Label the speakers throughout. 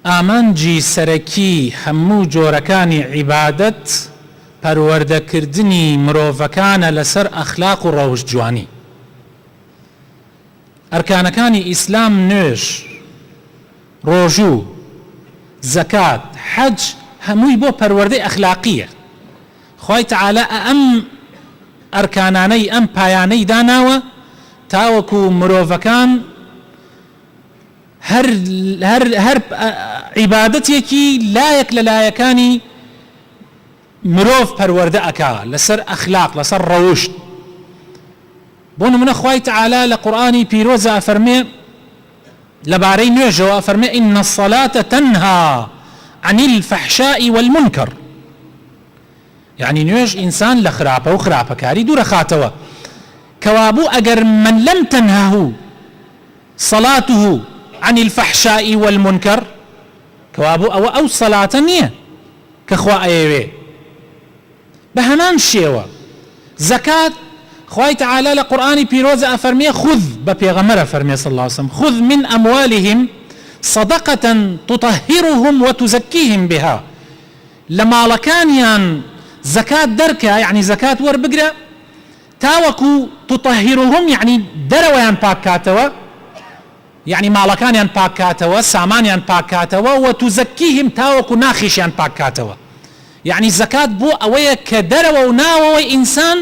Speaker 1: ئامانجی سەرەکی هەموو جۆرەکانی عیبادەت پەروەردەکردنی مرۆڤەکانە لەسەر ئەخلاق و ڕەوشت جوانی. ئەرکانەکانی ئیسلام نوێژ، ڕۆژوو، زەکات، حەج هەمووی بۆ پەروەردەی ئەخلاقییە. خوای تەعالا ئەم ئەرکانانەی ئەم پایانەی داناوە تاوەکو مرۆڤەکان، هەر هەر هەر عیبادەتێکی لایەک لە لایەکانی مرۆڤ پەروەردە ئەکا لەسەر ئەخلاق لەسەر ڕەوشت بۆ نمونە خوای تعالی لە قورآانی پیرۆزە ئەفەرمێ لەبارەی نوێژەوە فەرمێ ئین الصلاة تنها عن الفحشاء والمنکر یعنی نوێژ ئینسان لە خراپە و خراپەکاری دوورەخاتەوە کەوابوو ئەگەر من لەم تەنهه صلاته عن الفحشاء والمنکر، کەوا بۆ ئەوە ئەو سەلاتە نییە کە خوا ئەیەوێ. بە هەمان شێوە زەکات خوای تەعالا لە قورئانی پیرۆزا ئەفەرموێ خذ، بە پێغەمبەر ئەفەرموێ صلی اللە وسلم، خذ من اموالهم صدقە تطهرهم وتزکیهم بها، لە ماڵەکانیان زەکات دەرکە، یەعنی زەکات وەربگرە، تاوەکو تطهرهم یەعنی دەرەوەیان پاک کاتەوە یەعنی ماڵەکانیان پاک کاتەوە سامانیان پاک کاتەوە وتزکیهم تاوەکو ناخیشیان پاک کاتەوە یەعنی زەکات بۆ ئەوەیە کە دەرەوە و ناوەوەی ئینسان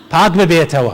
Speaker 1: پاک ببێتەوە.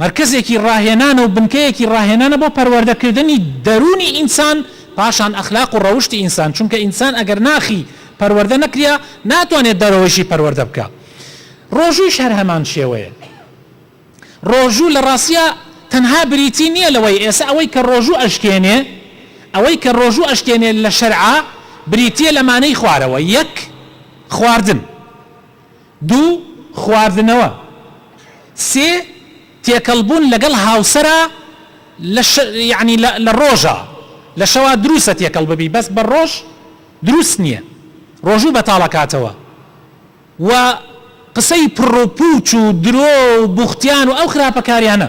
Speaker 1: مەرکەزێکی ڕاهێنانە و بنکەیەکی ڕاهێنانە بۆ پەروەردەکردنی دەروونی ئینسان، پاشان ئەخلاق و ڕەوشتی ئینسان، چونکە ئینسان ئەگەر ناخی پەروەردە نەکریا ناتوانێت دەرەوەیشی پەروەردە بکا. ڕۆژوویش هەر هەمان شێوەیە. ڕۆژوو لە ڕاستیا تەنها بریتی نییە لەوەی ئێسە ئەوەی کە ڕۆژوو ئەشکێنێ، ئەوەی کە ڕۆژوو ئەشکێنێ لە شەرعا بریتییە لەمانەی خوارەوە، یەک خواردن. دوو، خواردنەوە. سێ، تێکەڵ بوون لەگەڵ هاوسەرا لە شە یانی لە لە ڕۆژا، لە شەوا دروسە تێکەڵ ببی بەس بە ڕۆژ دروست نیە ڕۆژوو بەتاڵ ئەکاتەوە و قسەی پڕ و پوچ و درۆ و بوختیان و ئەو خراپە کاریانە.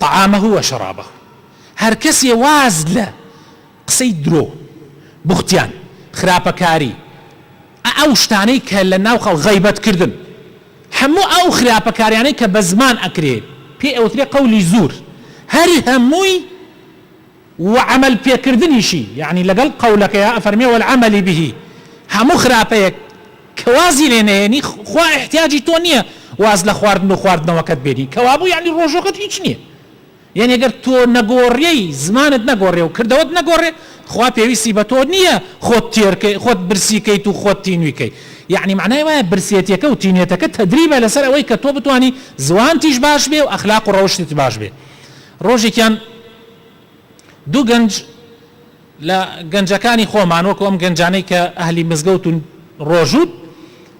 Speaker 1: طعامه و شرابه هەرکەسێ واز لە قسەی درۆ، بوختیان، خراپەکاری، ە ئەو شتانەی کە لە ناو خەڵک غەیبەت کردن هەموو ئەو خراپەکاریانەی کە بە زمان ئەکرێ پێ ئەوترێ قولی زور هەر هەمووی وعەمەل پێکردنیشی یەعنی لەگەڵ قەولەکەیا ئەفەرمێ والعمل به هەموو خراپەیەک کە وازی لێ نەهێنی خوا ئیحتیاجی تۆ نیە واز لە خواردن و خواردنەوەکەت بێنی کەوابوو یەعنی ڕۆژوەکەت هیچ نیە یەعنی گەر تۆ نەگۆڕێی زمانت نەگۆڕێ و کردەوەت نەگۆڕێ خوا پێویستی بە تۆ نیە خۆت تێر کەی خۆت برسی کەیت و خۆت تینوی کەی یەعنی مەعنای وایە برسێتیەکە و تینێتەکە تەدریبە لەسەر ئەوەی کە تۆ بتوانی زوانتیش باش بێ و ئەخلاق و ڕەوشتت باش بێ ڕۆژێکیان دوو گەنج لە گەنجەکانی خۆمان وەکو ئەم گەنجانەی کە ئەهلی مزگەوت و ڕۆژووت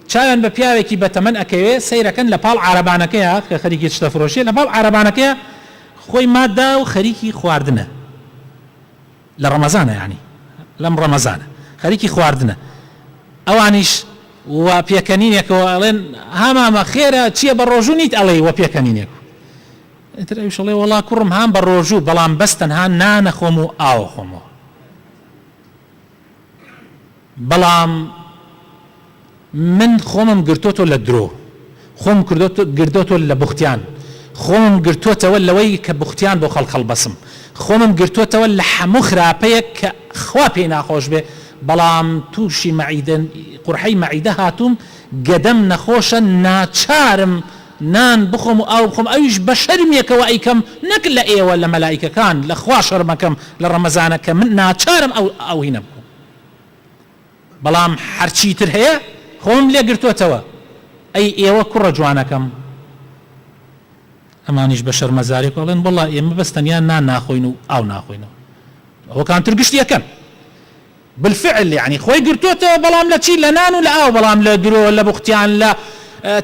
Speaker 1: چاویان بە پیاوێکی بە تەمەن ئەکەوێ سەیرەکەن لە پاڵ عارەبانەکەیا کە خەریکی چتە فرۆشیە لە پاڵ عارەبانەکەیا خۆی مادا و خەریکی خواردنە لە ڕەمەزانە یانی لەم ڕەمەزانە خەریکی خواردنە ئەوانیش و پێکەنینێکەوە ئەڵێن هامامە خێرە چییە بە ڕۆژوو نیت ئەڵێی وە پێکەنینێک ئیتر ئەویش ئەڵێ وەڵا کوڕم هان بە ڕۆژوو بەڵام بەس تەنها نان ئەخۆم و ئاو ئەخۆمەوە بەڵام من خۆمم گرتۆتۆ لە درۆ خۆم گردۆتۆ لە بوختیان خۆمم گرتوتەوە لەوەی کە بوختیان بۆ خەڵک هەڵبەسم خۆمم گرتوتەوە لە حەموو خراپەیەک کە خوا پێی ناخۆش بێ بەڵام تووشی مەعیدە قورحەی مەعیدە هاتووم گەدەم نەخۆشە ناچارم نان بخۆم و ئاو بخۆم ئەویش بە شەرمێکەوە ئەیکەم نەک لە ئێوە لە مەلائیکەکان لە خوا شەرمەکەم لە ڕەمەزانە کە من ناچارم ئەو ئەو هینە بخۆم بەڵام هەرچی تر هەیە خۆم لێ گرتۆتەوە ئەی ئێوە کوڕە جوانەکەم ئەمانیش بە شەرمەزارێک ئەڵێن وەڵا ئێمە بەس تەنیا نان ناخۆین و ئاو ناخۆینەوە ئەوەکان تر گشتی ئەکەن بالفعل یەعنی خۆی گرتۆتەوە بەڵام لە چی لە نان و لە ئاو بەڵام لە درۆ لە بوختان لە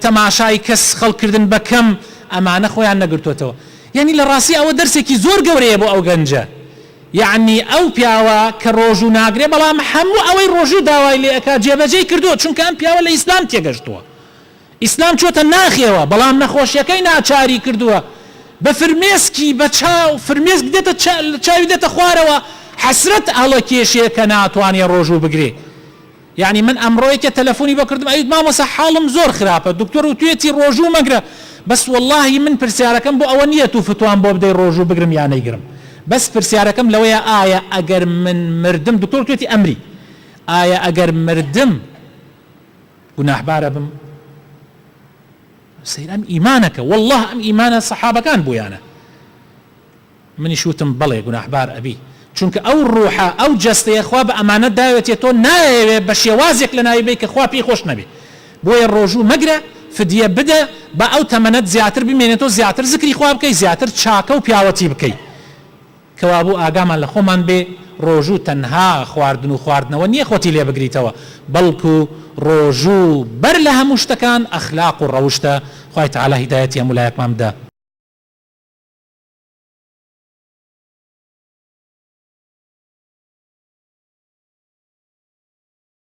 Speaker 1: تەماشای کەس خەڵک کردن بە کەم ئەمانە خۆیان نەگرتۆتەوە یەعنی لە ڕاستی ئەوە دەرسێکی زۆر گەورەیە بۆ ئەو گەنجە یەعنی ئەو پیاوە کە ڕۆژوو ناگرێ بەڵام هەموو ئەوەی ڕۆژوو داوای لێ ئەکا جێبەجێی کردووە چونکە ئەم پیاوە لە ئیسلام تێگەشتووە ئیسلام چۆتە ناخێوە بەڵام نەخۆشیەکەی ناچاری کردووە بە فرمێسکی بە چاو فرمێسک دێتە چاوی دێتە خوارەوە حەسرەت هەڵەکێشێ کە ناتوانێ ڕۆژوو بگرێ یانی من ئەمڕۆ یەکێ تەلەفونی بۆ کردم ئەیوت مامۆسا حاڵم زۆر خراپە دکتۆر وتوێتی ڕۆژوو مەگرە بەس وەڵاهی من پرسیارەکەم بۆ ئەوە نییە تو فتوام بۆ بدەی ڕۆژوو بگرم یا نەیگرم بەس پرسیارەکەم لەوەیە ئایا ئەگەر من مردم دکتۆر وتوێتی ئەمری ئایا ئەگەر مردم گوناحبارەبم سەیر ئەم ئیمانەکە والله ئەم ئیمانە سەحابەکان بویانە منیش وتم بەڵێ گوناحبار ئەبی چونکە ئەو ڕوحە ئەو جەستەیە خوا بە ئەمانەت داوێتێ تۆ نایەوێ بە شێوازێک لە ناوی بی کە خوا پێی خۆش نەبێ بۆیە ڕۆژوو مەگرە فدیە بدە با ئەو تەمەنەت زیاتر بمێنێتەوە زیاتر زکری خوا بکەی زیاتر چاکە و پیاوەتی بکەی کەوابوو ئاگامان لە خۆمان بێ، ڕۆژوو تەنها خواردن و خواردنەوە نییە خۆتی لێ بگریتەوە، بەڵکو ڕۆژوو بەر لە هەموو شتەکان ئەخلاق و ڕەوشتە، خوای تەعالا هیدایەتی هەموو لایەکمان بدا.